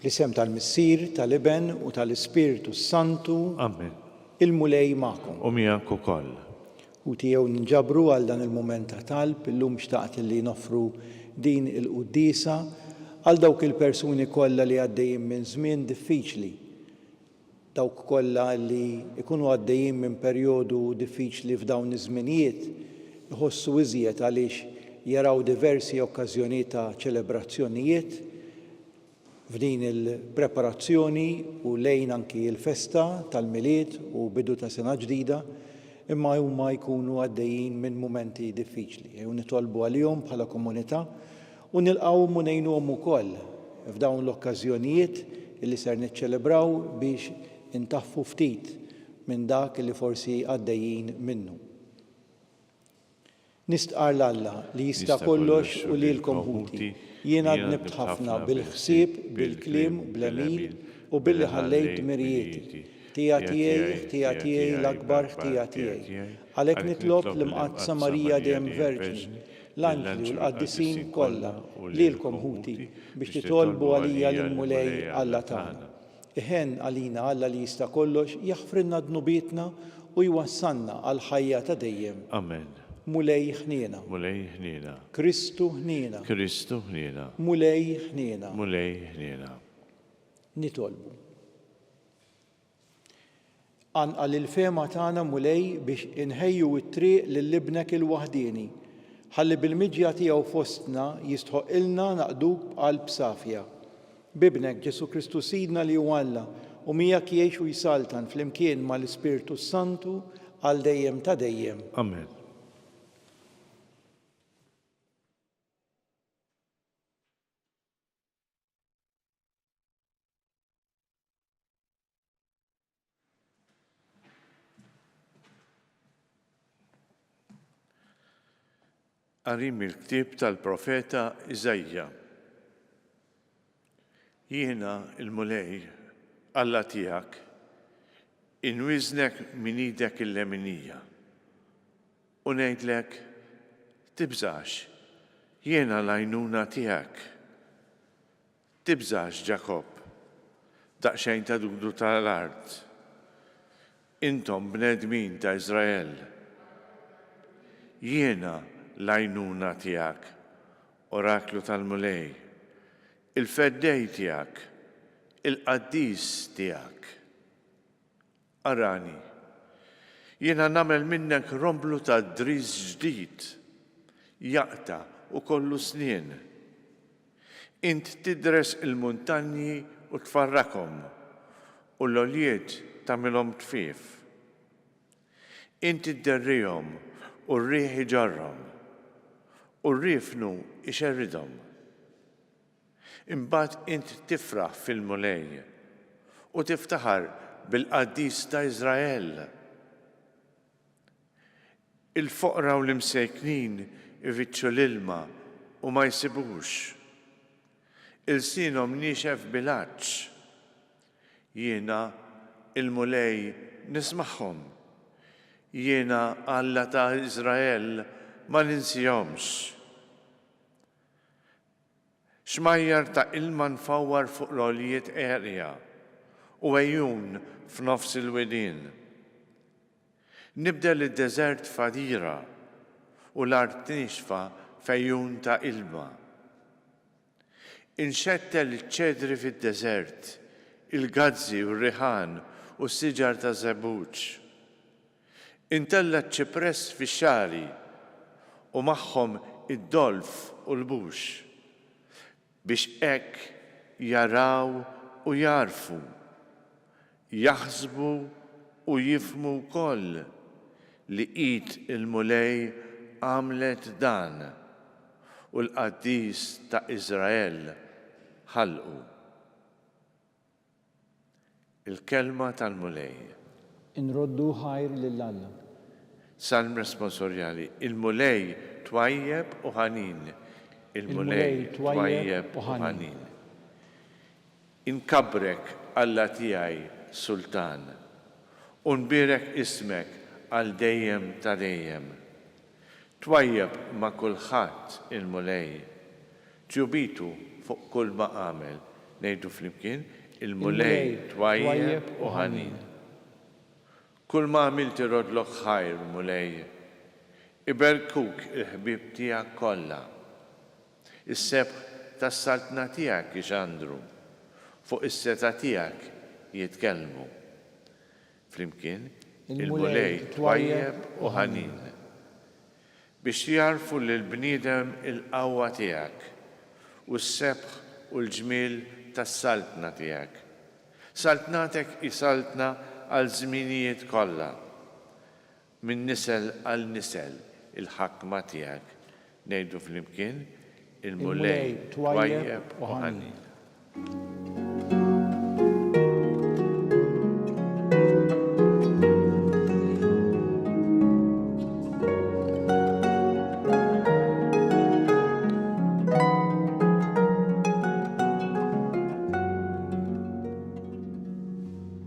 Fl-isem tal-Missier, tal-Iben u tal-Ispirtu s-Santu. Amen. Il-Mulej magħkom. U miegħek ukoll. U tiegħu ninġabru għal dan il-mument ta' talb, illum xtaqt li noffru din il-quddiesa għal dawk il-persuni kollha li għaddejjin minn żmien diffiċli. dawk kollha li jkunu għaddejjin minn perjodu diffiċli f'dawn iż-żminijiet iħossu iżjed għaliex jaraw diversi okkażjonijiet ta' ċelebrazzjonijiet f'din il-preparazzjoni u lejn anki l-festa tal-Milied u bidu ta' sena ġdida imma huma jkunu għaddejjin minn mumenti diffiċli u nitolbu għalihom bħala komunità U nilqgħuhom u ngħinuhom ukoll f'dawn l-okkażjonijiet li ser niċċelebraw biex intaffu ftit minn dak li forsi għaddejjin minnu. Nistqarr 'l Alla li jista' kollox u lilkom ħuti, jien għadni bdt ħafna bil-ħsieb, bil-kliem, bl-għemil u billi ħallejt dmirijieti. Ħtija tiegħi, ħtija tiegħi, l-akbar ħtija tiegħi. Għalhekk nitlob l-Imqaddsa Marija Dejjem Verġni, l-anġli u l-qaddisin kollha, u lilkom ħuti, biex titolbu għalija lill-Mulej Alla tagħna. Iħenn għalina Alla li jista' kollox jaħfrilna dnubietna u jwassalna għall-ħajja ta' dejjem. Amen. Mulej ħniena. Mulej ħniena. Kristu ħniena. Kristu ħniena. Mulej ħniena. Mulej ħniena. Nitolbu. Qanqal il-fehma tagħna, Mulej, biex inħejju t-triq lil Ibnek il-waħdieni, ħalli bil-miġja tiegħu fostna jistħoqqilna naqduk b'qalb safja. B'Ibnek, Ġesù Kristu Sidna li hu Alla u miegħek jgħix u jsaltan flimkien mal-Ispirtu s-Santu għal dejjem ta' dejjem. Amen. Qarim il-ktieb tal-profeta Iżajja. Jiena il-Mulej Alla tiegħek inwiżnek minn idek il-leminija. U ngħidlek, Tibżax, jiena l-għajnuna tiegħek. Tibżax, Ġakobb, daqsxejn ta' dudu ta' l-art. Intom bnedmin ta' Iżrael, jiena l-għajnuna tiegħek, oraklu tal-Mulej, il-feddej tiegħek, il-qaddis tiegħek. Arani. Jiena nagħmel minnek romblu ta' driż ġdid, jaqta' u kollu snien. Int tidres il-muntanji u tfarrakhom, u l-għoljiet tagħmilhom tfief. Int idderrihom u r-riħ iġarrhom, u r-riefnu jxerridhom. Imbagħad int tifraħ fil-Mulej, u tiftaħar bil-Qaddis ta' Iżrael. Il-foqra u l-imsejknin ifittxu l-ilma u ma jsibux. Ilsienhom niexef bil-għatx. Jiena, il-Mulej, nismagħhom. Jiena, Alla ta' Iżrael, ma ninsihomx. Xmajjar ta' ilma nfawwar fuq l-għoljiet għerja, u għejun f'nofs il-widien. Nibdel id-deżert f'għadira, u l-art niexfa f'għejun ta' ilma. Inxettel iċ-ċedri fid-deżert, il-gazzi u r-riħan u s-siġar taż-żebbuġ. Intella' ċ-ċipress fix-xagħri, u magħhom id-dolf u l-bux, biex hekk jaraw u jagħrfu, jaħsbu u jifhmu wkoll li id il-Mulej għamlet dan, u l-Qaddis ta' Iżrael ħalqu. Il-Kelma tal-Mulej. Inroddu ħajr lil Alla. Salm Responsorjali, Il-Mulej twajjeb u ħanin. Il-Mulej twajjeb u ħanin. Inkabbrek, Alla tiegħi, Sultan, u nbierek ismek għal dejjem ta' dejjem. Twajjeb ma' kulħadd il-Mulej, Ġubitu fuq kull ma għamel. Ngħidu flimkien, Il-Mulej twajjeb u ħanin. Kull ma għamilt iroddlok ħajr, Mulej. Iberrkuk il-ħbieb tiegħek kollha. Is-sebħ tas-Saltna tiegħek ixandru. Fuq is-setgħa tiegħek jitkellmu. Flimkien, il-Mulej twajjeb u ħanin. Biex jgħarrfu lill-bniedem il-qawwa tiegħek, u s-sebħ u l-ġmiel tas-saltna tiegħek. Saltnatek hi saltna għal żminijiet kollha. Minn nisel għal nisel il-ħakma tiegħek ngħidu flimkien, Il-Mulej twajjeb u ħanin.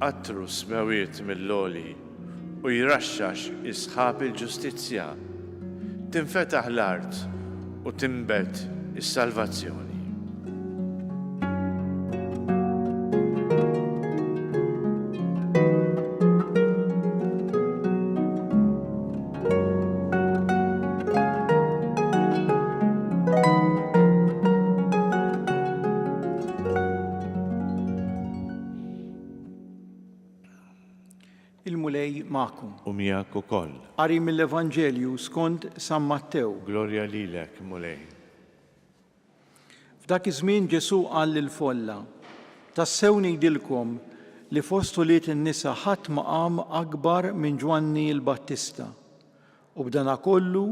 Għattru s-smewwiet mill-għoli. u jraxxax is-sħab il-ġustizzja, tinfetaħ l-art u tinbet is-salvazzjoni. Il-Mulej magħkom. U miegħek ukoll. Qari mill-Evanġelju skond San Mattew. Glorja lilek, Mulej. F'dak iż-żmien Ġesù qal lill-folla, Tassew ngħidilkom li fost ulied in-nisa ħadd ma qam akbar minn Ġwanni l-Battista. U b'dana kollu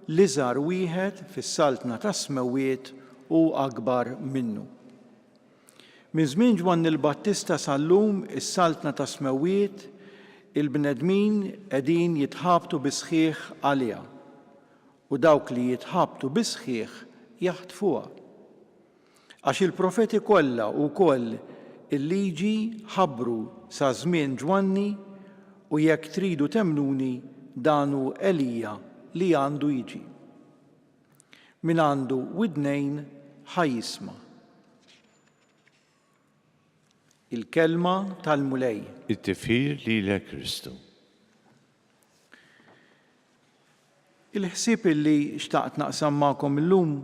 l-iżgħar wieħed fis-saltna tas-smewwiet hu akbar minnu. Minn żmien Ġwanni l-Battista sal-lum is-Saltna tas-Smewwiet, il-bnedmin qegħdin jitħabtu bis-sħiħ għaliha, u dawk li jitħabtu bis-sħiħ jaħtfuha. Għax il-profeti kollha u wkoll il-Liġi ħabbru sa żmien Ġwanni, u jekk tridu temmnuni dan hu Elija li għandu jiġi. Min għandu widnejn ħa jisma'. Il-kelma tal-Mulej. It-tifħir lilek Kristu. Il-ħsieb illi xtaqt naqsam magħkom illum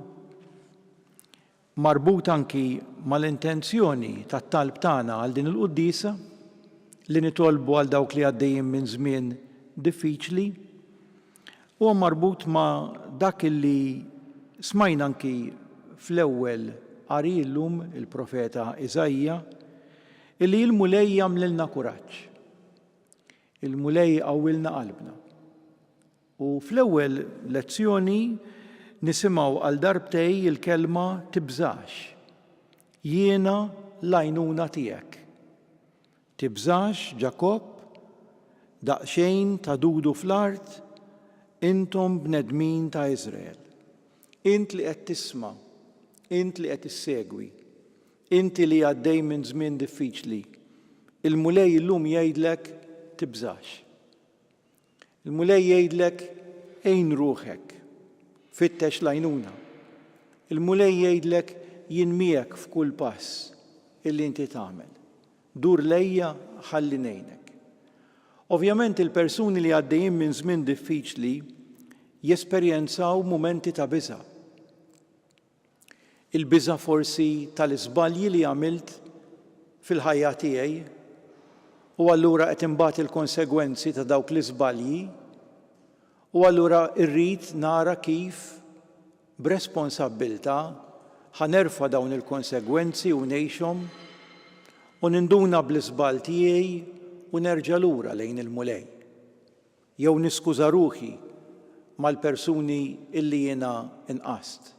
marbut anki mal-intenzjoni tat-talb tagħna għal din il-quddiesa, li nitolbu għal dawk li għaddejjin minn żmien diffiċli, huwa marbut ma' dak li smajna anki fl-ewwel qari llum, il-profeta Iżaija, illi il-Mulej jagħmlilna kuraġġ. Il-Mulej iqawwilna qalbna. U fl-ewwel lezzjoni nisimgħu għal darbtej il-kelma tibżax. Jiena l-għajnuna tiegħek. Tibżax Ġakobb, daqsxejn tagħdudu fl-art, intom bnedmin ta' Iżrael. Int li qed tisma', int li qed issegwi, inti li għaddej minn żmien diffiċli, il-Mulej illum jgħidlek tibżax. Il-Mulej jgħidlek, Għin ruħek. Fittex l-għajnuna. Il-Mulej jgħidlek, Jien miegħek f'kull pass illi inti tagħmel. Dur lejja ħalli ngħinek. Ovvjament il-persuni li għaddejjin minn żmien diffiċli jesperjenzaw mumenti ta' biża'. Il-biża' forsi tal-iżbalji li għamilt fil-ħajja tiegħi u allura qed inbati l-konsegwenzi ta' dawk l-iżbalji u allura rrid nara kif b'responsabbiltà ħa nerfa' dawn il-konsegwenzi u ngħixhom u ninduna bl-iżball tiegħi u nerġa' lura lejn il-Mulej. Jew niskuża ruħi mal-persuni illi jiena nqast.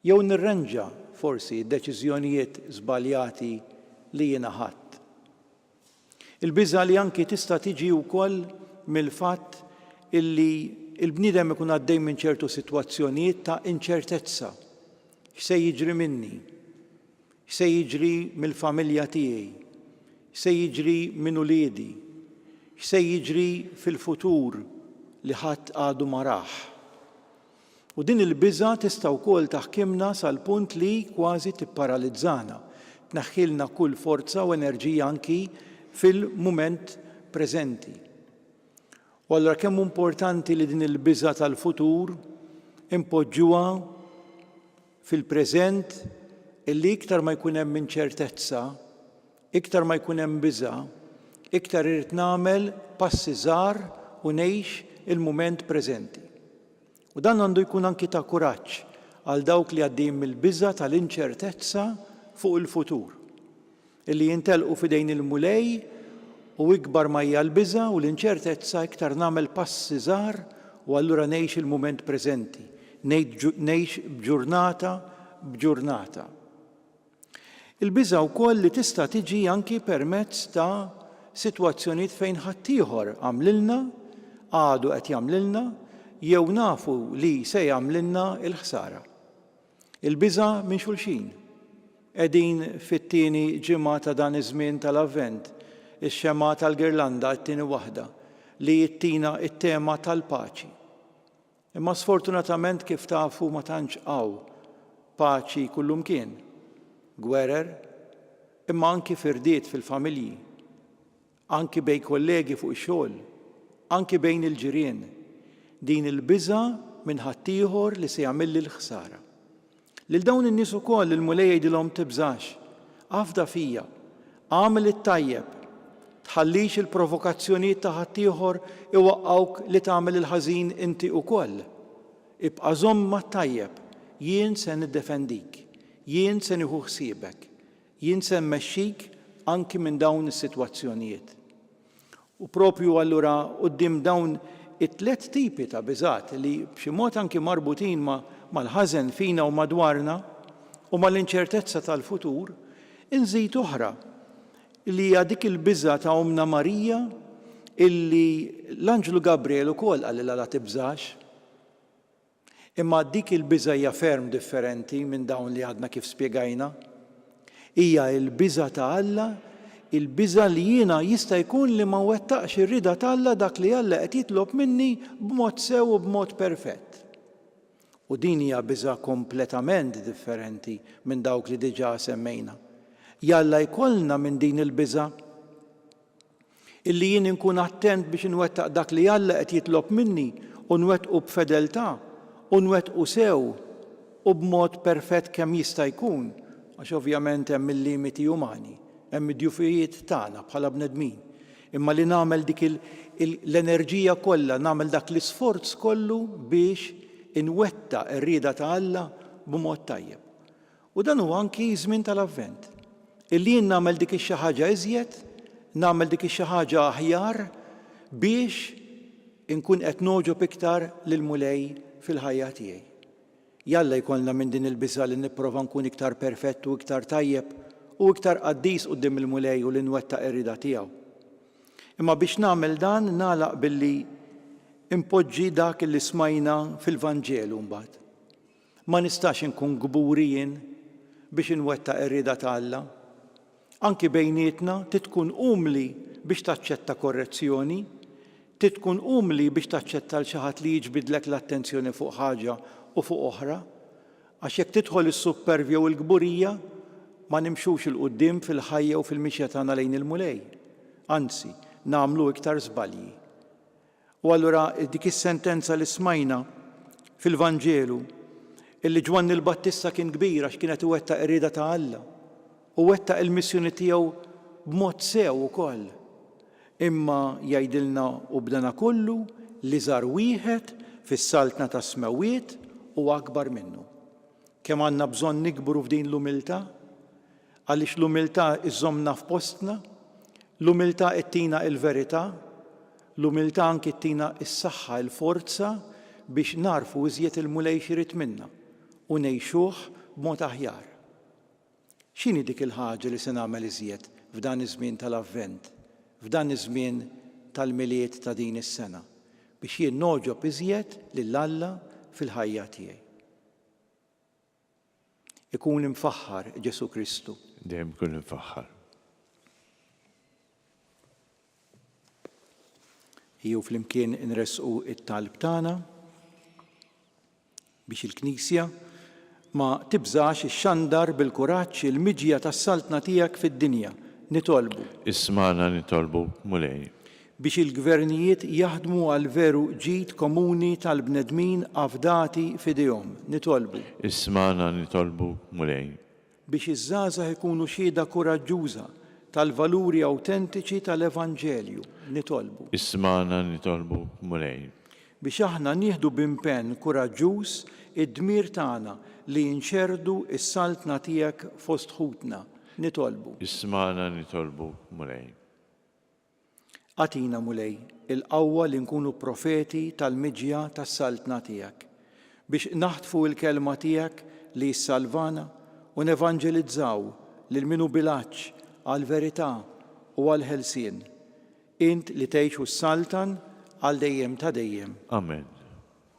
Jew nirrenġa, forsi, d-deċiżjonijiet żbaljati li jiena ħadt. Il-biża' li anki tista' tiġi wkoll mill-fatt illi l-bniedem ikun għaddej minn ċertu sitwazzjonijiet ta' inċertezza. X'se jiġri minni? X'se jiġri mill-familja tiegħi? X'se jiġri minn uliedi? X'se jiġri fil-futur li ħadd għadu ma rah? U din il-biża' tista' wkoll taħkimna sal-punt li kważi tipparalizzana, tneħħilna kull forza u enerġija anki fil-mument preżenti. U allura kemm hu importanti li din il-biża' tal-futur inpoġġuha fil-preżent illi iktar ma jkun hemm inċertezza, iktar ma jkun hemm biża', iktar irrid nagħmel passi żgħar u ngħix il-mument preżenti. U dan għandu jkun anki ta' kuraġġ għal dawk li għaddejjin mill-biża' tal-inċertezza fuq il-futur. Illi jintellqu f'idejn il-Mulej, u ikbar ma hija l-biża' u l-inċertezza iktar nagħmel passi żgħar u allura ngħix il-mument preżenti, ngħix b'ġurnata b'ġurnata. Il-biża' wkoll li tista' tiġi anki permezz ta' sitwazzjonijiet fejn ħaddieħor għamlilna, għadu qed jagħmlilna, jew nafu li se jagħmlilna l-ħsara. Il-biża' minn xulxin. Qegħdin fit-tieni ġimgħa ta' dan iż-żmien tal-Avvent, ix-xemgħa tal-girlanda, it-tieni waħda, li ttina t-tema tal-paċi. Imma sfortunatament kif tafu ma tantx hawn paċi kullumkien. Gwerer, imma anki firdiet fil-familji. Anki bejn kollegi fuq ix-xogħol, anki bejn il-ġirien, din il-biża' minn ħaddieħor li se jagħmilli l-ħsara. Lil dawn in-nies ukoll il-Mulej jgħidilhom tibżax, afda fija, agħmel it-tajjeb, tħallix il-provokazzjonijiet ta' ħaddieħor iwaqqgħuk li tagħmel il-ħażin inti ukoll. Ibqa' żomm mat-tajjeb, jien se niddefendik, jien se nieħu ħsiebek. Jien se mmexxik anki minn dawn is-sitwazzjonijiet. U proprju allura quddiem dawn it-tliet tipi ta' biżgħat li b'xi mod anki marbutin mal-ħażen fina u madwarna u mal-inċertezza tal-futur, inżid oħra li hija dik il-biża' ta' Ommna Marija illi l-Anġlu Gabriel ukoll qalilha la tibżax. Imma dik il-biża' hija ferm differenti minn dawn li għadna kif spjegajna. Hija l-biża' ta' Alla, il-biża' li jiena jista' jkun li ma nwettaqx ir-rieda t'Alla dak li Alla qed jitlob minni b'mod sew u b'mod perfett. U din hija biża' kompletament differenti minn dawk li diġà semmejna. Jalla jkollna minn din il-biża'! Illi jien inkun attent biex inwettaq dak li Alla qed jitlob minni u nwettqu b'fedeltà u nwettqu sew u b'mod perfett kemm jista' jkun, għax ovvjament hemm il-limiti umani, hemm id-djufijiet tagħna bħala bnedmin, imma li nagħmel dik l-enerġija kollha, nagħmel dak l-isforz kollu biex inwettaq ir-rieda ta' Alla b'mod tajjeb. U dan huwa anki ż-żmien tal-Avvent, illi jien nagħmel dik ix-xi ħaġa iżjed, nagħmel dik ix-xi ħaġa aħjar biex inkun qed nogħġob iktar lill-Mulej fil-ħajja tiegħi. Jalla jkollna minn din il-biża' li nipprova nkun iktar perfett u iktar tajjeb u iktar qaddis quddiem il-Mulej u li nwettaq ir-rieda tiegħu. Imma biex nagħmel dan nagħlaq billi npoġġi dak li smajna fil-Vanġelu mbagħad. Ma nistax inkun kburi jien biex inwettaq ir-rieda ta' Alla. Anki bejnietna trid tkun umli biex taċċetta korrezzjoni, trid tkun umli biex taċċetta 'l xi ħadd li jiġbidlek l-attenzjoni fuq ħaġa u fuq oħra, għax jekk tidħol is-suppervja u l-kburija ma nimxux 'il quddiem fil-ħajja u fil-mixja tagħna lejn il-Mulej. Anzi, nagħmlu iktar żbalji. U allura dik is-sentenza li smajna fil-Vanġelu, illi Ġwanni l-Battista kien kbir għax kien qed iwettaq ir-rieda ta' Alla, u wettaq il-missjoni tiegħu b'mod sew ukoll. Imma jgħidilna u b'dana kollu li żar wieħed fis-saltna tas-smewwiet huwa akbar minnu. Kemm għandna bżonn nikbru f'din l-umiltà, għaliex l-umiltà żżommna f'postna, l-umiltà ttina l-verità, L-umiltà anki ttina s-saħħa, il-forza biex nagħrfu iżjed il-Mulej x'irid minna u ngħixuh b'mod aħjar. X'inhi dik il-ħaġa li se nagħmel iżjed f'dan iż-żmien tal-Avvent, f'dan iż-żmien tal-Milied ta' din is-sena, biex jien nogħġob iżjed lil Alla fil-ħajja tiegħi? Ikun imfaħħar Ġesù Kristu. Dejjem ikun imfaħħar. Jew flimkien inresqu it-talb tagħna biex il-Knisja ma tibżax ix-xandar bil-kuraġġ il-miġja tas-saltna tiegħek fid-dinja. Nitolbu. Ismana nitolbu, Mulej. biex il-gvernijiet jaħdmu għall-veru ġid komuni tal-bnedmin afdati f'idejhom. Nitolbu. Ismagħna nitolbuk, Mulej. Biex iż-żgħażagħ ikunu xhieda kuraġġuża tal-valuri awtentiċi tal-evanġelju. Nitolbu. Ismagħna nitolbuk, Mulej. Biex aħna nieħdu b'impenn kuraġġuż id-dmir tagħna li nxerrdu s-Saltna tiegħek fost ħutna. Nitolbu. Ismagħna nitolbuk, Mulej. Agħtina, Mulej, il-qawwa li nkunu profeti tal-miġja tas-Saltna tiegħek, biex naħtfu l-kelma tiegħek li ssalvana u nevanġelizzaw lil min hu bil-għatx għall-verità u għall-ħelsien, int li tgħix u ssaltan għal dejjem ta' dejjem. Amen.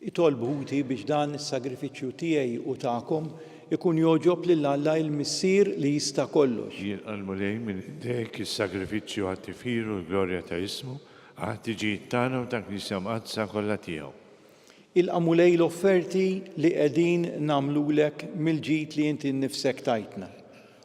Itolb ħuti biex dan is-sagrifiċċju tiegħi u tagħkom ikun jogħġob lil Alla il-Missier li jista' kollox. Jien qalmu lejn minn idejk is-sagrifiċċju għat-tifħir u l-glorja ta' ismu, għall-ħtiġijiet tagħna u tal-Knisja Mqaddsa kollha tiegħu. Ilqa' Mulej l-offerti li qegħdin nagħmlulek mill-ġid li inti nnifsek tajtna.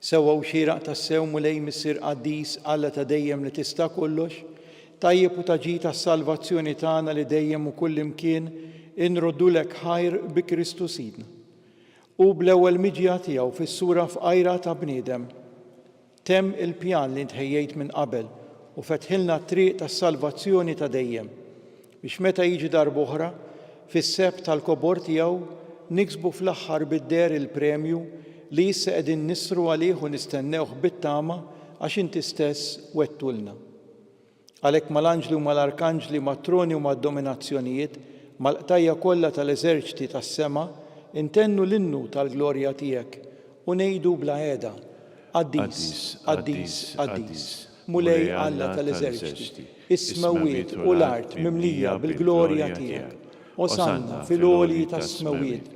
Sewwa u xieraq tassew, Mulej Missier Qaddis, Alla ta' dejjem li tista' kollox, tajjeb u ta' ġid għas-salvazzjoni tagħna li dejjem u kullimkien inroddulek ħajr bi Kristu Sidna. Hu bl-ewwel miġja tiegħu fis-sura fqajra ta' bniedem temm il-pjan li int ħejjejt minn qabel u fetħilna t-triq tas-salvazzjoni ta' dejjem. Biex meta jiġi darb'oħra, fis-sehb tal-kobor tiegħu, niksbu fl-aħħar bid-deher il-premju li issa qegħdin nisru għalih u nistennewh bit-tama għax Inti stess wegħdtulna. Għalhekk mal-anġli u mal-arkanġli, mat-troni u mad-dominazzjonijiet, mal-qtajja' kollha tal-eżerċti tas-sema, intennu l-innu tal-glorja Tiegħek u ngħidu bla heda, Qaddis, Qaddis, Qaddis. Mulej Alla ta' l-eżerċti, is-smewwiet u l-art mimlija bil-glorja tiegħek. Osanna fil-għolji tas-smewwiet,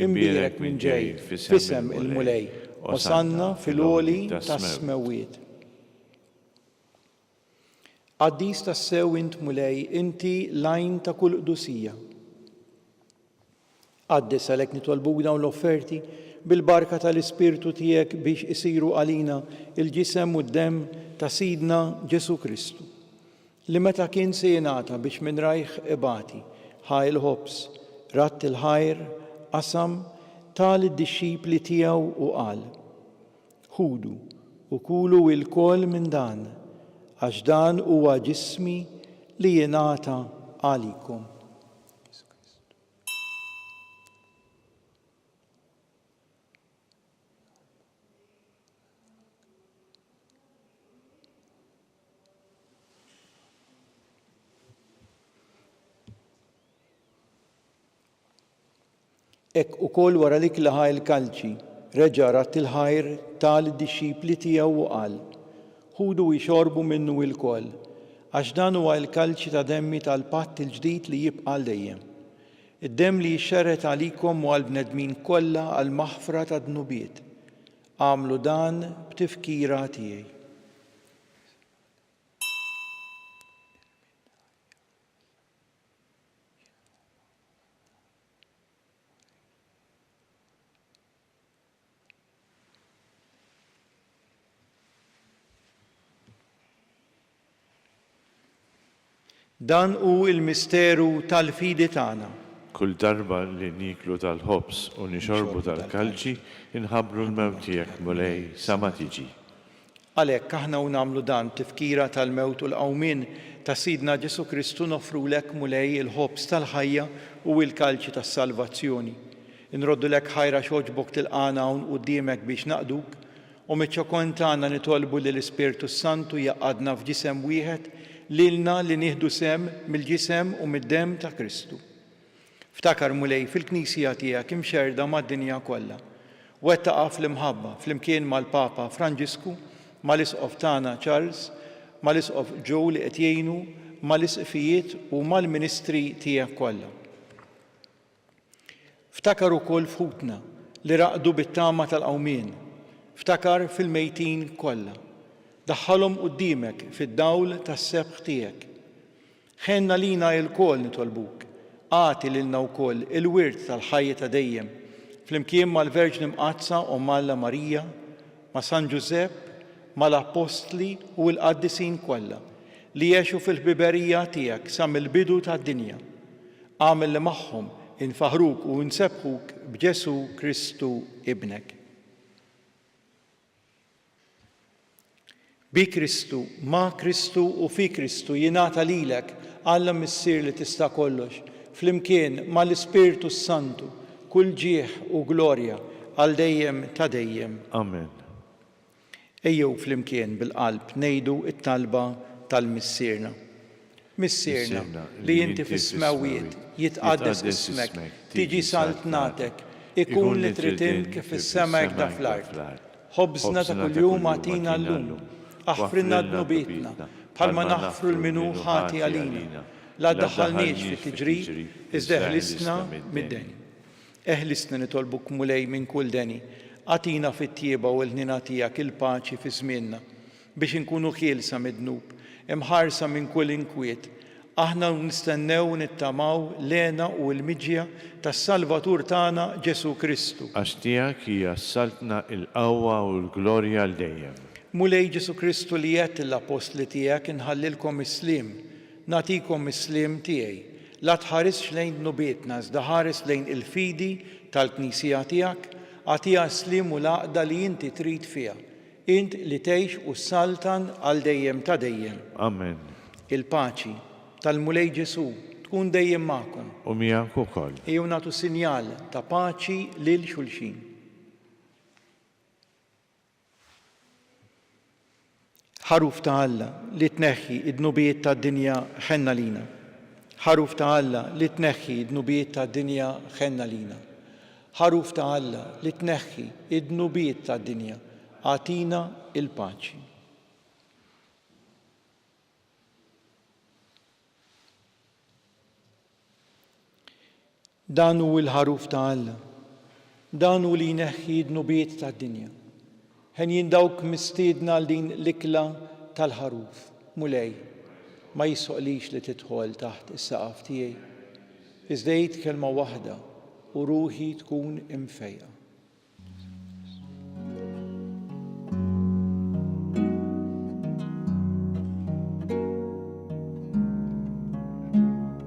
imbierek min ġej f'isem il-Mulej, osanna fil-għoli tas-smewwiet. Qaddis tassew int Mulej, inti l-għajn ta' kull qdusija. Qaddis għalhekk nitolbuk dawn l-offerti bil-barka tal-Ispirtu tiegħek biex isiru għalina l-ġisem u d-demm ta' Sidna Ġesù Kristu, li meta kien se jingħata biex minn rajh ibati, ħa l-ħobż, radd il-ħajr, qasam, ta lid-dixxipli tiegħu u qal, Ħudu u kulu ilkoll minn dan, għax dan huwa ġismi li jingħata għalikom. Hekk ukoll wara li klaha il-kalċi, reġa' radd il-ħajr ta' lid-dixxipli tiegħu u qal, Ħudu u xorbu minnu ilkoll, għax dan huwa l-kalċi ta' demmi tal-patt il-ġdid li jibqa' għal dejjem, id-demm li jixxerred għalikom u għall-bnedmin kollha għall-maħfra tad-dnubiet. Agħmlu dan b'tifkira tiegħi. Dan hu l-misteru tal-fidi tagħna. Kull darba li nieklu tal-ħobż u nixorbu tal-kalċi, inħabbru l-mewt tiegħek, Mulej, sa ma tiġi. Għalhekk aħna u nagħmlu dan b'tifkira tal-mewt u l-qawmien ta' Sidna Ġesù Kristu noffrulek, Mulej, il-ħobż tal-ħajja u il-kalċi tas-salvazzjoni. Inroddulek ħajr għax għoġbok tilqagħna hawn quddiemek biex naqduk, u miċ-ċokon tagħna nitolbu li l-Ispirtu s-Santu jgħaqqadna f'ġisem wieħed lilna li nieħdu sehem mill-ġisem u mid-demm ta' Kristu. Ftakar, Mulej, fil-Knisija tiegħek imxerrda mad-dinja kollha. Wettaqha fl-imħabba, flimkien mal-Papa Franġisku, mal-Isqof tagħna Charles, mal-Isqof Joe li qed jgħinu, mal-Isqfijiet u mal-ministri tiegħek kollha. Ftakar ukoll f'ħutna li raqdu bit-tama tal-qawmien. Ftakar fil-mejtin kollha. Daħħalhom quddiemek fid-dawl tas-sebħ tiegħek. Ħenn għalina ilkoll nitolbuk, agħti lilna wkoll il-wirt tal-ħajja ta' dejjem, flimkien mal-Verġni Mqaddsa Omm Alla Marija, ma' San Ġużepp, mal-Appostli u l-Qaddisin kollha, li għexu fil-ħbiberija tiegħek sa mill-bidu tad-dinja. Agħmel li magħhom infaħruk u nsebbħuk b'Ġesù Kristu Ibnek. Bi Kristu, ma' Kristu u fi Kristu jingħata lilek, Alla Missier li tista' kollox, flimkien ma' l-Ispirtu s-Santu, kull ġieħ u glorja għal dejjem ta' dejjem. Amen. Ejjew flimkien bil-qalb ngħidu t-talba tal-Missierna. Missierna, li inti fis-smewwiet, jitqaddes ismek, tiġi saltnatek, ikun li trid int kif fis-sema hekk da fl-art. Ħobżna ta' kuljum agħtina llum. Aħfrilna dnubietna, bħalma naħfru l min hu ħati għalina. La ddaħħalniex fi tiġrib, iżda eħlisna mid-deni. Eħlisna nitolbuk Mulej minn kull deni. Agħtina fit-tjieba u l-ħniena tiegħek il-paċi fi żmienna. Biex inkunu ħielsa mid-dnub, imħarsa minn kull inkwiet, aħna nistennew u nittamaw l-hena u l-miġja tas-Salvatur tagħna Ġesù Kristu. Għax tiegħek hija s-saltna, il-qawwa u l-glorja għal dejjem. Mulej Ġesù Kristu li għedt lill-appostli tiegħek inħallilkom is-sliem, nagħtikom is-sliem tiegħi, la tħarisx lejn dnubietna iżda ħares lejn il-fidi tal-Knisija tiegħek, agħtiha s-sliem u l-għaqda li inti trid fiha. Int li tgħix u ssaltan għal dejjem ta' dejjem. Amen. Il-paċi tal-Mulej Ġesù tkun dejjem magħkom. U miegħek ukoll. Ejjew nagħtu sinjal ta' paċi lil xulxin. Ħaruf ta' Alla li tneħħi d-dnubijiet tad-dinja ħenna lina. Ħaruf ta' Alla li tneħħi d-dnubijiet tad-dinja ħenna lina. Ħaruf ta' Alla li tneħħi d-dnubiet tad-dinja, agħtina l-paċi. Dan hu l-Ħaruf ta' Alla. Dan hu li jneħħi d-dnubiet tad-dinja. Henjin dawk mistiedna għal din l-ikla tal-Ħaruf. Mulej, ma jisħoqlix li tidħol taħt is-saqaf tiegħi. Iżda għid kelma waħda u ruħi tkun imfejqa.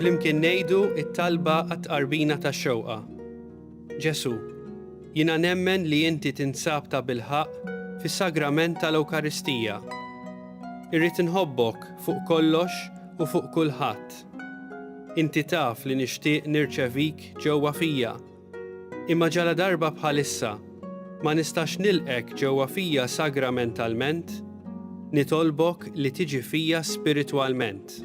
Flimkien ngħidu it-talba għat-tqarbina tax-xewqa. Ġesu, jiena nemmen li inti tinsab ta' bilħaq fis-sagrament tal-Ewkaristija. Irrid inħobbok fuq kollox u fuq kulħadd. Inti taf li nixtieq nirċevik ġewwa fija, imma ġaladarba bħalissa ma nistax nilqgħek ġewwa fija sagramentalment, nitolbok li tiġi fija spiritwalment.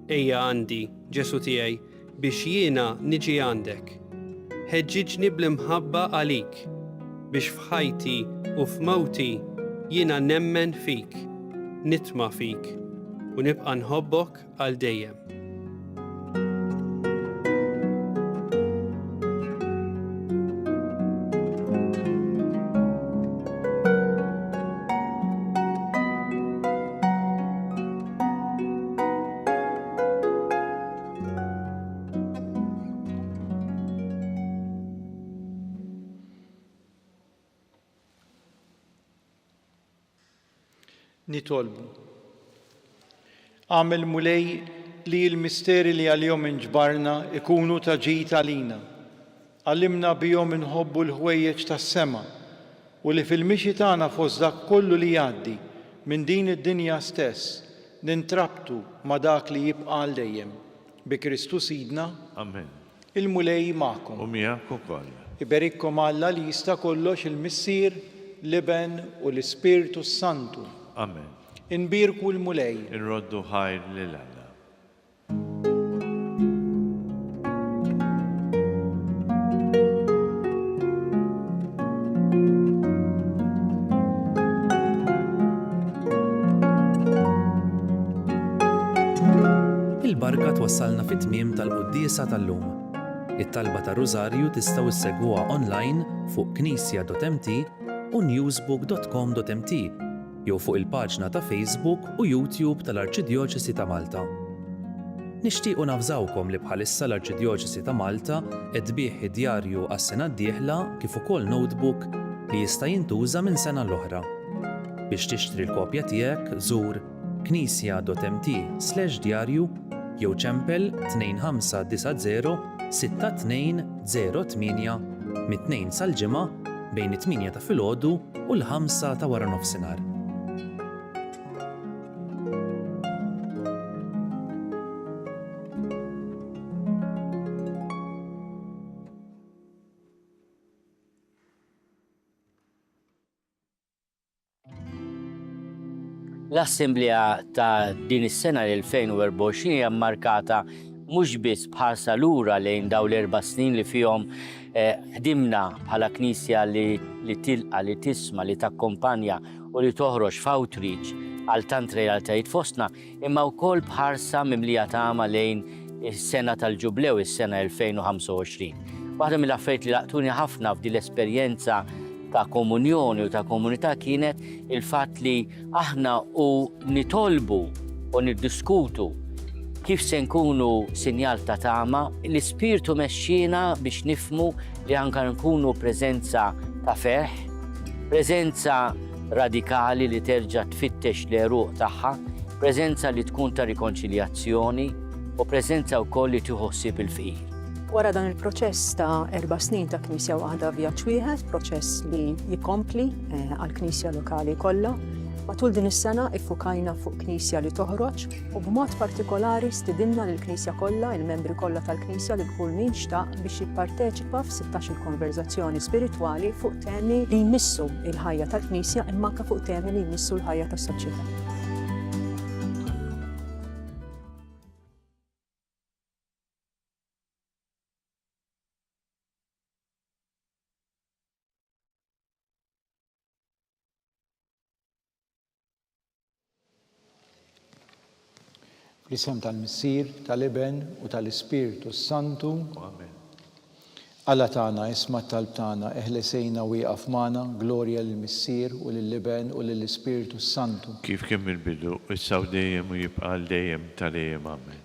Ejja għandi, Ġesù tiegħi, biex jiena niġi għandek. Ħeġġiġni bl-imħabba għalik, biex f'ħajti u f'mewti jiena nemmen fik, nitma' fik, u nibqa' nħobbok għal dejjem. Nitolbu. Għamil mulej li l-misteri li għal-jom inġbarna ikunu ta' ġid għalina. Għallimna bihom inħobbu l-ħwejjeġ tas-sema u li fil-mixi tagħna fost dak kollu li jgħaddi minn din id-dinja stess nintrabtu ma' dak li jibqa' għal dejjem, bi Kristu Sidna. Amen. Il-Mulej magħkom. U miegħek ukoll. Iberikkom Alla li Jista' Kollox il-Missier, l-Iben u l-Ispirtu s-Santu. Amen. Inbierku l-Mulej. Irroddu ħajr lil Alla. Il-barka twassalna fit-tmiem tal-quddiesa tal-lum. It-talba tar-Rużarju tistgħu ssegwuha online fuq knisja.mt u newsbook.com.mt. jew fuq il-paġna ta' Facebook u YouTube tal-Arċidjoċesi ta' Malta. Nixtiequ navżawkom li bħalissa l-Arċidjoċesi ta' Malta qed tbigħ id-djarju għas-sena d-dieħla kif ukoll notebook li jista' jintuża minn sena l-oħra. Biex tixtri l-kopja tiegħek żur knisja.mt/djarju jew ċempel 2590 62 08 mit-Tnejn sal-Ġimgħa bejn it-tmienja ta' filgħodu u l-ħamsa ta' waranofsinhar. L-Assemblea ta' din is-sena l-2024 hija mmarkata mhux biss b'ħarsa lura lejn dawn l-erba' snin li fihom ħdimna bħala Knisja li tilqa', li tisma', li takkompanja u li toħroġ f'outreach għal tant realtajiet fostna, imma wkoll b'ħarsa mimlija tama lejn is-sena tal-Ġublew, is-sena 2025. Waħda mill-affarijiet li laqtuni ħafna f'din l-esperjenza ta' komunjoni u ta' komunità kienet il-fatt li aħna u nitolbu u niddiskutu kif se nkunu sinjal ta' tama, l-ispirtu mexxina biex nifmu li anka nkunu preżenza ta' ferħ, preżenza radikali li terġa' tfittex l-għeruq tagħha, preżenza li tkun ta' rikonċiljazzjoni u preżenza wkoll li tieħu ħsieb il-fqir. Wara dan il-proċess ta' erba' snin ta' Knisja waħda vjaġġ wieħed, proċess li jkompli eh, għall-Knisja lokali kollha, Matul din is-sena iffukajna fuq knisja li toħroġ u b'mod partikolari stidinna lill knisja kollha, il-membri kollha tal-knisja li kull min xtaq biex jipparteċi Papa f'sittax il-konverżazzjoni spiritwali fuq temi li jmissu il-ħajja tal-Knisja imma anke fuq temi li jmissu l-ħajja tas-soċjetà. L-isem tal-Missier, tal-Iben u tal-Ispirtu s-Santu. Amen. Alla tagħna isma' t-talb tagħna, eħlesejna u ieqaf magħna, glorja lill-Missier u lill-Iben u lill-Ispirtu s-Santu. Kif kien mill-bidu, issa u dejjem u jibqa' għal dejjem ta' dejjem. Amen.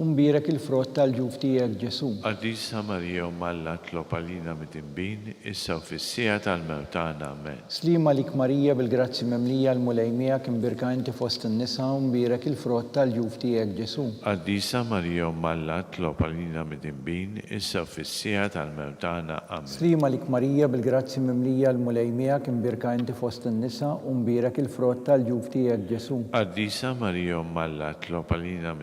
U mbierek il-frott tal-ġuf tiegħek, Ġesù. Qaddisa Marija Omm Alla itlob għalina midinbin, issa u fis-siegħa tal-mewt tagħna. Amen. Sliem għalik Marija bil-grazzji mimlija l-Mulej miegħek imbierka inti fost in-nisa u mbierek il-frott tal-ġuf tiegħek, Ġesù. Qaddisa Marija Omm Alla itlob għalina midinbin, issa u fis-siegħa tal-mewt tagħna. Amen. Sliem għalik Marija bil-grazzji mimlija l-Mulej miegħek imbierka inti fost in-nisa u mbierek il-frott tal-ġuf tiegħek, Ġesù. Qaddisa Marija Omm Alla itlob għalina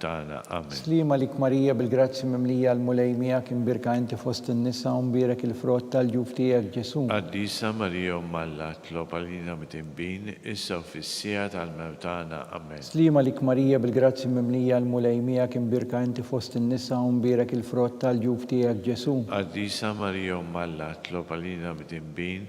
tagħna. Amen. Sliem għalik Marija bil-grazzji mimlija l-Mulej miegħek imbierka inti fost in-nisa u mbierek il-frott tal-ġuf tiegħek Ġesù. Qaddisa Marija Omm Alla tlob għalina midinbin issa u fis-siegħa tal-mewt tagħna. Amen. Sliem għalik Marija bil-grazzji mimlija l-Mulej miegħek imbierka inti fost in-nisa u mbierek il-frott tal-ġuf tiegħek Ġesù. Qaddisa Marija Omm Alla tlob għalina midinbin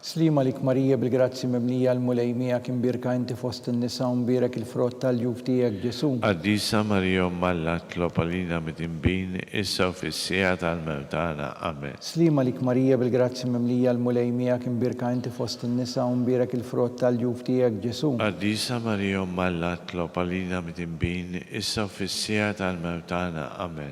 Sliem għalik Marija bil-grazzji mimlija l-Mulej miegħek imbierka inti fost in-nisa u mbierek il-frott tal-juf tiegħek Ġesù. Qaddisa Marija Omm Alla tlob għalina midinbin issa u fis-siegħa tal-mewt tagħna. Amen. Sliem għalik Marija bil-grazzji mimlija l-Mulej miegħek imbierka inti fost in-nisa u mbierek il-frott tal-juf tiegħek Ġesù. Qaddisa Marija Omm Alla tlob għalina midinbin issa u fis-siegħa tal-mewt tagħna. Amen.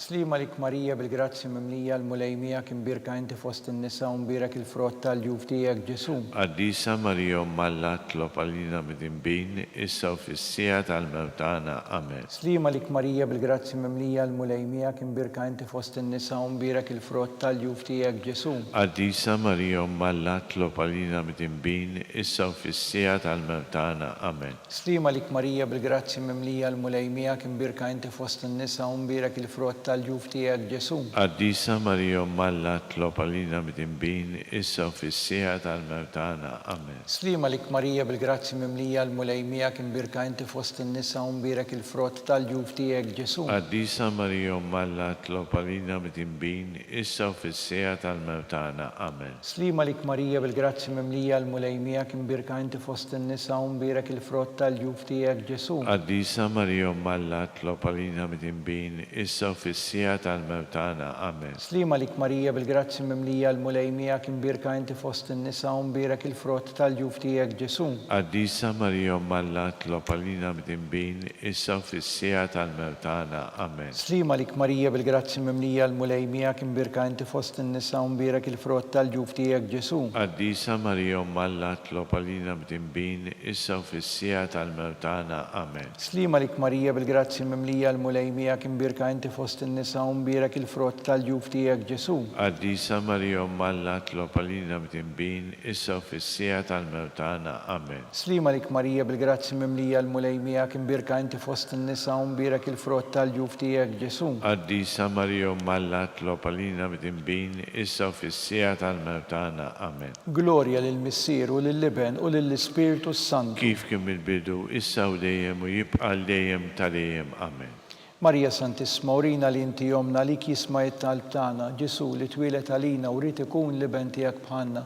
Sliem għalik Marija bil-grazzji mimlija, l-Mulej miegħek, imbierka inti fost in-nisa u mbierek il-frott ta' l-juf tiegħek, Ġesù. Qaddisa Marija Omm Alla tlob għalina midinbin, issa u fis-siegħa tal-mewt tagħna. Amen. Sliem għalik Marija bil-grazzji mimlija, l-Mulej miegħek, imbierka inti fost in-nisa u mbierek il-frott ta' l-juf tiegħek, Ġesù. Qaddisa Marija Omm Alla tlob għalina midinbin, issa u fis-siegħa tal-mewt tagħna. Amen. Stima għalik Marija bil-grazzji mimlija l-Mulej miegħek imbierka inti fost in-nisa u mbierek il-frott tal-ġuf tiegħek Ġesù. Qaddisa Marija Omm Alla tlob għalina midinbin issa u fis-siegħa tal-mewt tagħna. Amen. Stima għalik Marija bil-grazzji mimlija l-Mulej miegħek imbierka inti fost in-nisa u mbierek il-frott tal-ġuf tiegħek Ġesù. Qaddisa Marija Omm Alla tlob għalina midinbin issa u fis-siegħa tal-mewt tagħna. Amen. Sliem għalik Marija bil-grazzji mimlija l-Mulej miegħek imbierka inti fost in-nisa u mbierek il-frott tal-ġuf tiegħek Ġesù. Qaddisa Marija Omm Alla tlob għalina midinbin issa u fis-siegħa tal-mewt tagħna. Amen. Sliem għalik Marija bil-grazzji mimlija l-Mulej miegħek imbierka inti fost in-nisa u mbierek il-frott tal-ġuf tiegħek Ġesù. Qaddisa Marija Omm Alla tlob għalina midinbin issa u fis-siegħa tal-mewt tagħna. Amen. Sliema għalik Marija bil-grazzji mimlija l-Mulej miegħek imbierka inti fost in-nisa u mbierek il-frott tal-ġuf tiegħek Ġesù. Qaddisa Marija Omm Alla tlob għalina b'dinbin issa u fis-siegħa tal-mewt tagħna. Amen. Sliema għalik Marija bil-grazzji mimlija l-Mulej miegħek imbierka inti fost in-nisa u mbierek il-frott tal-ġuf tiegħek Ġesù. Qaddisa Marija Omm Alla tlob għalina b'dinbin issa u fis-siegħa tal-mewt tagħna. Amen. Sliem għalik Marija bil-grazzji mimlija l-Mulej miegħek imbierka inti fost in-nisa u mbierek il-frott tal-ġuf tiegħek Ġesù. Qaddisa Marija Omm Alla tlob għalina mdinbin issa u fis-siegħa tal-mewt tagħna. Amen. Glorja lill-Missier u lill-Iben u lill-Ispirtu s-Santu. Kif kien mill-bidu, issa u dejjem u jibqa' għal dejjem ta' dejjem. Amen. Marija Santissma urina li inti ommna għalik jisma' it-talb tagħna Ġesù li twieled għalina u ried ikun l-Iben tiegħek bħalna.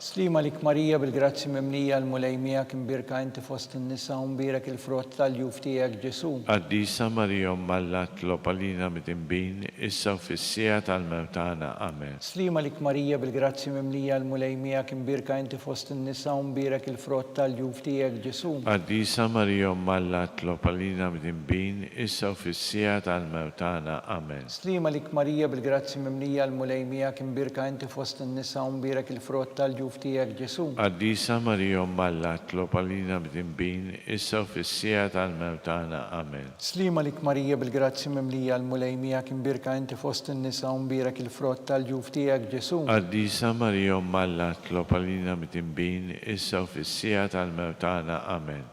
Sliem għalik Marija bil-grazzji mimlija l-Mulej miegħek imbierka inti fost in-nisa u mbierek il-frott tal-juf tiegħek Ġesù. Qaddisa Marija Omm Alla tlob għalina midinbin issa u fis-siegħa tal-mewt tagħna. Amen. Sliem għalik Marija bil-grazzji mimlija l-Mulej miegħek imbierka inti fost in-nisa u mbierek il-frott tal-juf tiegħek Ġesù. Qaddisa Marija Omm Alla tlob għalina midinbin issa u fis-siegħa tal-mewt tagħna. Amen. Sliema lik Marija bil-grazzji mimlija l-Mulej miegħek imbierka inti fost in-nisa u mbierek il-frott tal-ġuf tiegħek Ġesù. Qaddisa Marija Omm Alla tlob għalina mdinbin issa u fis-siegħa tal-mewt tagħna. Amen. Sliema lik Marija bil-grazzji mimlija l-Mulej miegħek imbierka inti fost in-nisa u mbierek il-frott tal-ġuf tiegħek Ġesù. Qaddisa Marija Omm Alla tlob għalina mdinbin issa u fis-siegħa tal-mewt tagħna. Amen.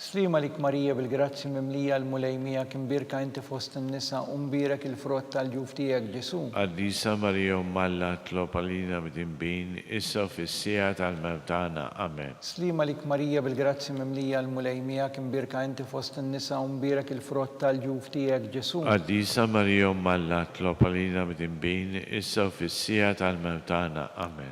Sliema għalik Marija bil-grazzji mimlija l-Mulej miegħek imbierka inti fost in-nisa u mbierek il-frott tal-ġuf tiegħek Ġesù. Qaddisa Marija Omm Alla tlob għalina mdinbin issa u fis-siegħa tal-mewt tagħna. Amen. Sliema għalik Marija bil-grazzji mimlija l-Mulej miegħek imbierka inti fost in-nisa u mbierek il-frott tal-ġuf tiegħek Ġesù. Qaddisa Marija Omm Alla tlob għalina mdinbin issa u fis-siegħa tal-mewt tagħna. Amen.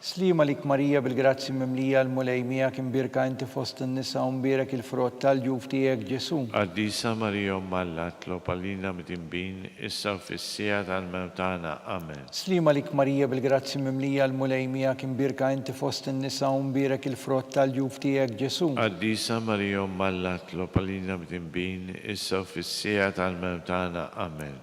Sliema għalik Marija bil-grazzji mimlija l-Mulej miegħek imbierka inti fost in-nisa u mbierek il-frott tal-ġuf tiegħek Ġesù. Qaddisa Marija Omm Alla tlob għalina mdinbin issa u fis-siegħa tal-mewt tagħna. Amen. Sliema għalik Marija bil-grazzji mimlija l-Mulej miegħek imbierka inti fost in-nisa u mbierek il-frott tal-ġuf tiegħek Ġesù. Qaddisa Marija Omm Alla tlob għalina mdinbin issa u fis-siegħa tal-mewt tagħna. Amen.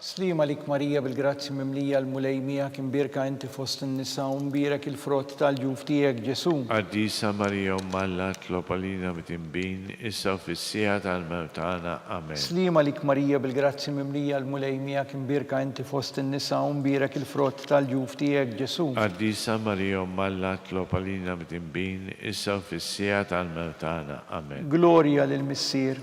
Sliem għalik Marija bil-grazzji mimlija l-Mulej miegħek imbierka inti fost in-nisa u mbierek il-frott tal-ġuf tiegħek Ġesù. Qaddisa Marija Omm Alla tlob għalina mtinbin issa u fis-siegħa tal-mewt tagħna. Amen. Sliem għalik Marija bil-grazzji mimlija l-Mulej miegħek imbierka inti fost in-nisa u mbierek il-frott tal-ġuf tiegħek Ġesù. Qaddisa Marija Omm Alla tlob għalina mtinbin issa u fis-siegħa tal-mewt tagħna. Amen. Glorja lill-Missier.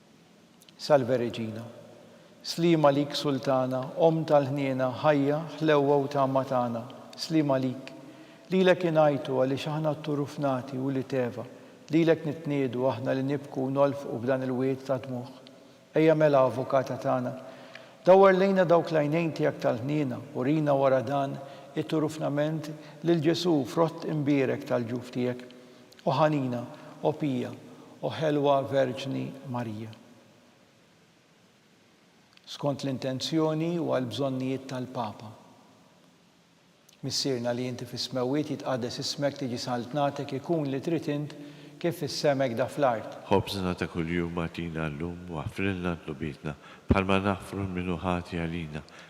Salve Regina. Sliem għalik Sultana, Omm tal-ħniena, ħajja, ħlewwa u tama tagħna. Sliem għalik. Lilek ingħajtu għaliex aħna t-turufnati u l-iteva. Lilek nitniedu aħna li nibku u nolfqu f'dan il-wied ta' dmugħ. Ejja mela Avukata tagħna. Dawwar lejna dawk l-għajnejn tiegħek tal-ħniena, urina wara dan it-turufnament lil Ġesù, frott imbierek tal-ġuf tiegħek. O ħanina, O pija, O ħelwa Verġni Marija. Skont l-intenzjoni u għall-bżonnijiet tal-Papa. Missierna li inti fis-smewwiet jitqaddes ismek tiġi saltnatek ikun li trid int kif fis-sema hekk da fl-art. Ħobżna ta' kuljum agħtina llum u aħfrilna dnubietna bħalma naħfru l-min hu ħati għalina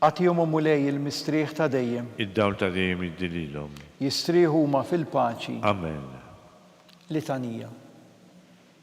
Agħtihom, O Mulej, il-mistrieħ ta' dejjem. Id-dawl ta' dejjem iddi lilhom. Jistrieħu huma fil-paċi. Amen. Litanija.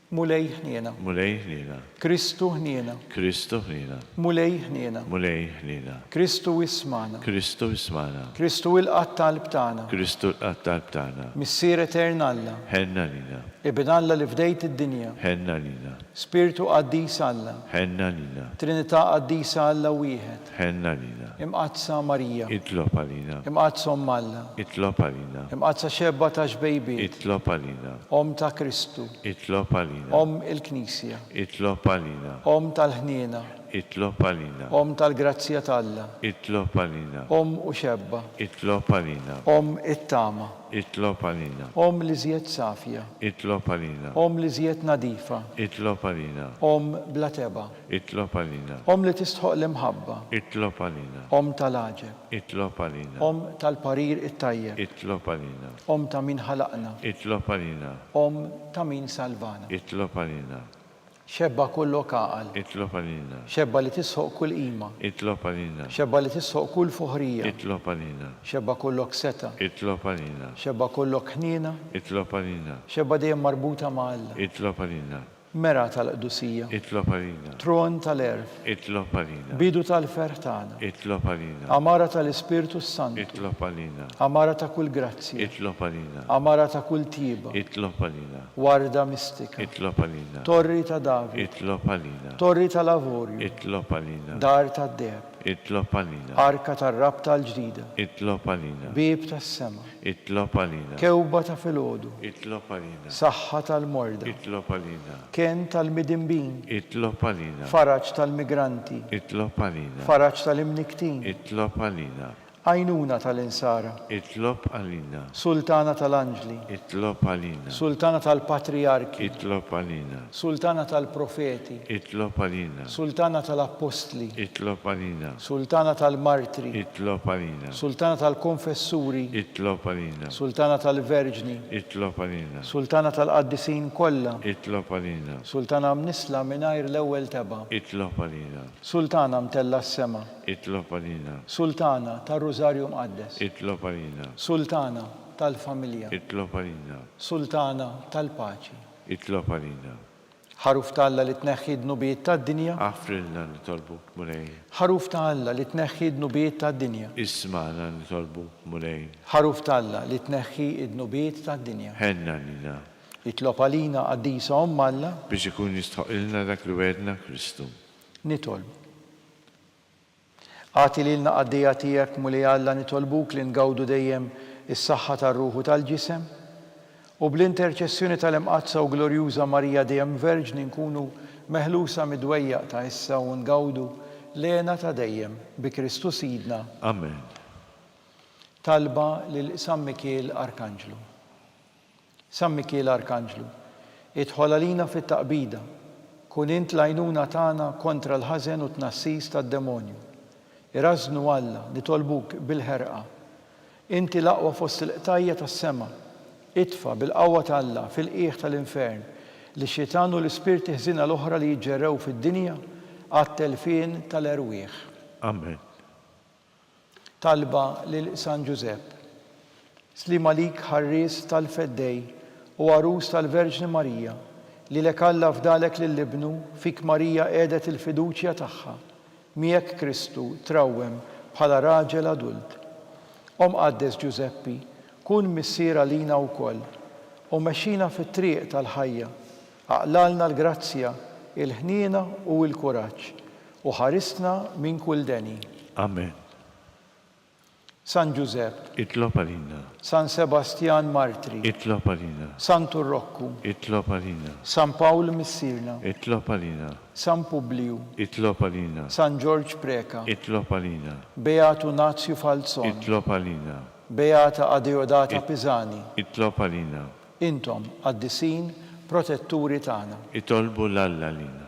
Mulej ħniena. Mulej ħniena. Kristu ħniena. Kristu ħniena. Mulej ħniena. Mulej ħniena. Kristu ismagħna. Kristu ismagħna. Kristu ilqa' t-talb tagħna. Kristu lqa' t-talb tagħna. Missier etern Alla. Ħenn għalina. Ibn Alla li fdejt id-dinja. Ħenn għalina. Spirtu Qaddis Alla. Ħenn għalina. Trinità Qaddisa Alla Wieħed. Ħenn għalina. Imqaddsa Marija. Itlob għalina. Imqaddsa Omm Alla. Itlob għalina. Imqaddsa Xebba ta' Xbejbiet. Itlob għalina. Omm ta' Kristu. Itlob għalina. Omm il-Knisja. Itlob għalina. Omm tal-ħniena. Itlob għalina. Omm tal-grazzja t'Alla. Itlob għalina. Omm u Xebba. Itlob għalina. Omm it-tama. Itlob għalina. Omm l-iżjed safja. Itlob għalina. Omm l-iżjed nadifa. Itlob għalina. Omm bla tebgħa. Itlob għalina. Omm li tistħoqq l-imħabba. Itlob għalina. Omm tal-għaġeb. Itlob għalina. Omm tal-parir it-tajjeb. Itlob għalina. Omm ta' min ħalaqna. Itlob għalina. Omm ta' min salvana. Itlob għalina. Xebba kullok għaqal. Itlob għalina. Xebba li tisħoq kull qima. Itlob għalina. Xebba li tisħoq kull fuħrija. Itlob għalina. Xebba kullok setgħa. Itlob għalina. Xebba kullok ħniena. Itlob għalina. Xebba dejjem marbuta ma' Alla. Itlob għalina. Mera tal-qdusija. Itlob għalina. Tron tal-għerf. Itlob għalina. Bidu tal-ferħ tagħna. Itlob għalina. Għamara tal-Ispirtu s-Santu. Itlob għalina. Għamara ta' kull grazzja. Itlob għalina. Għamara ta' kull tjieba. Itlob għalina. Warda mistika. Itlob għalina. Torri ta' David. Itlob għalina. Torri tal-avorju. Itlob għalina. Dar tad-deheb. Itlob għalina. Arka tar-rabta l-ġdida. Itlob għalina. Bieb tas-sema. Itlob għalina. Kewba ta' filgħodu. Itlob għalina. Saħħa tal-morda. Itlob għalina. Kenn tal-midinbin. Itlob għalina. Faraġ tal-migranti. Itlob għalina. Faraġ tal-imnikktin. Itlob għalina. Għajnuna tal-insara. Itlob għalina. Sultana tal-anġli. Itlob għalina. Sultana tal-patrijarki. Itlob għalina. Sultana tal-profeti. Itlob għalina. Sultana tal-appostli. Itlob għalina. Sultana tal-martri. Itlob għalina. Sultana tal-konfessuri. Itlob għalina. Sultana tal-verġni. Itlob għalina. Sultana tal-qaddisin kollha. Itlob għalina. Sultana mnissla mingħajr l-ewwel tebgħa. Itlob għalina. Sultana mtellgħa s-sema. Itlob għalina. Sultana tar-Rużarju Mqaddes. Itlob għalina. Sultana tal-familja. Itlob għalina. Sultana tal-paċi. Itlob għalina. Ħaruf ta' Alla li tneħħi d-dnubiet tad-dinja. Aħfrilna nitolbuk, Mulej. Ħaruf ta' Alla li tneħħi d-dnubiet tad-dinja. Ismagħna nitolbuk, Mulej. Ħaruf ta' Alla li tneħħi d-dnubiet tad-dinja. Ħenn għalina. Itlob għalina, Qaddisa Omm Alla. Biex ikun jistħoqqilna dak li wegħedna Kristu. Nitolbu. Agħti lilna qaddejja tiegħek, Mulej Alla, nitolbuk li ngawdu dejjem is-saħħa tar-ruħ u tal-ġisem, u bl-interċessjoni tal-Imqaddsa u Glorjuża Marija Dejjem Verġni nkunu meħlusa mid-dwejjaq ta' issa u ngawdu l-hena ta' dejjem, bi Kristu Sidna. Amen. Talba lil San Mikiel Arkanġlu. San Mikiel Arkanġlu, idħol għalina fit-taqbida, kun int l-għajnuna tagħna kontra l-ħażen u t-tnassis tad-demonju. Irażżnu Alla, nitolbuk bil-ħerqa. Inti l-aqwa fost il-qtajja' tas-sema. Itfa', bil-qawwa t'Alla, fil-qiegħ tal-infern, lix-xitan u l-ispirti ħżiena l-oħra li jiġġerrew fid-dinja għat-telfien tal-erwieħ. Amen. Talba lil San Ġużepp. Sliem għalik ħarries tal-Feddej u għarus tal-Verġni Marija, lilek Alla fdalek lil Ibnu, fik Marija qiegħdet il-fiduċja tagħha, miegħek Kristu trawwem bħala raġel adult. O Mqaddes Ġużeppi, kun missier għalina wkoll, u mexxina fit-triq tal-ħajja. Aqlalna l-grazzja, il-ħniena u l-kuraġġ, u ħarisna minn kull deni. Amen. San Ġużepp. Itlob għalina. San Sebastjan Martri. Itlob għalina. Santu Rokku. Itlob għalina. San Pawl Missierna. Itlob għalina. San Publiju. Itlob għalina. San Ġorġ Preca. Itlob għalina. Beatu Nazju Falzon. Itlob għalina. Beata Adeodata Pisani. Itlob għalina. Intom, Qaddisin, Protetturi tagħna. Itolbu 'l Alla għalina.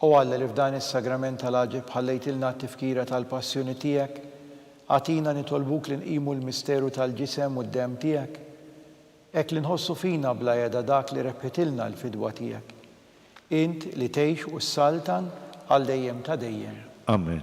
O Alla li f'dan is-Sagrament tal-Għaġeb ħallejtilna t-tifkira tal-Passjoni tiegħek, agħtina nitolbuk li nqimu l-misteru tal-Ġisem u d-Demm tiegħek, hekk li nħossu fina bla heda dak li rebħitilna l-fidwa tiegħek. Int li tgħix u ssaltan għal dejjem ta' dejjem. Amen.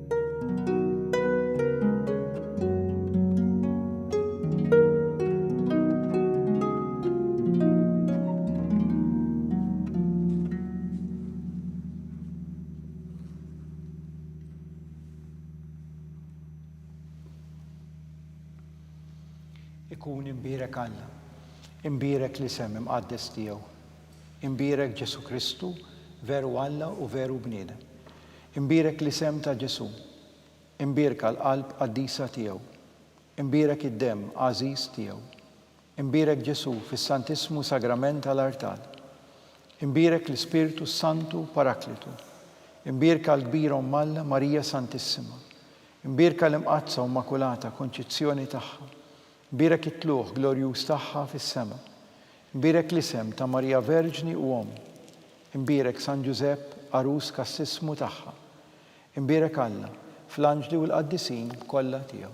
ikun imbierek Alla, imbierek li sem imqaddes tiegħu, imbierek Ġesu Kristu veru Alla u veru bniedem. Imbierek l-isem ta' Ġesù. Imbierka l-qalb qaddisa tiegħu. Imbierek id-demm għażiż tiegħu. Imbierek Ġesù fis-Santissmu Sagrament tal-artal. Imbierek l-Ispirtu s-Santu Paraklitu. Imbierka l-Kbira Omm Alla Marija Santissima. Imbierka l-Imqaddsa u Immakulata Konċizzjoni tagħha. Mbierek it-tlugħ glorjuż tagħha fis-sema. Mbierek l-isem ta' Marija Verġni u Omm. Imbierek San Ġużepp, għarus kassissmu tagħha. Imbierek Alla, fl-anġli u l-qaddisin kollha tiegħu.